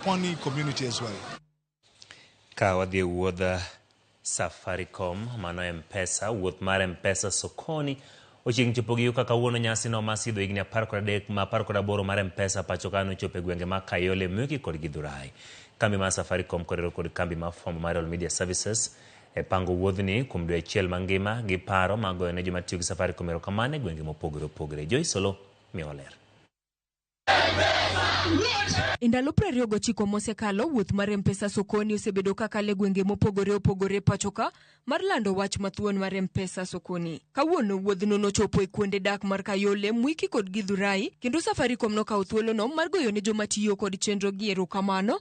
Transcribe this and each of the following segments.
Pwani community as well. Ka wadhi e wuodha Safaricom, mano e Mpesa, wuoth mar Mpesa sokoni ochiegni chopo gigo kaka wuono nyasi no ma sidho higni apar kod adek ma apar kod aboro mar Mpesa pacho ka nochopo e gwenge ma Kayole, Mwiki kod Githurai. Kambi mar Safaricom korero kod kambi ma fwambo mar All Media Services e pango wuodhni kuom dwe achiel mangima gi paro ma goyo ne joma tiyo gi Safaricom erokamano e gwenge mopogore opogore. Joyce Olo miyowa ler. E ndalo prariyo gochiko mosekalo, wuoth mar Mpesa Sokoni osebedo kakalo e gwenge mopogore opogore pachoka mar lando wach mathuon mar Mpesa Sokoni. Kawuono wuodhno nochopo e kuonde dak mar Kayole, Mwiki kod Githurai, kendo Safaricom nokawo thuolono mar goyo ne joma tiyo kod chenrogi erokamano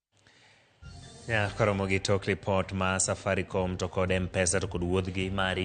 Yeah, koromo gi tok report ma Safaricom to kod M-Pesa to kod wuodhgi mari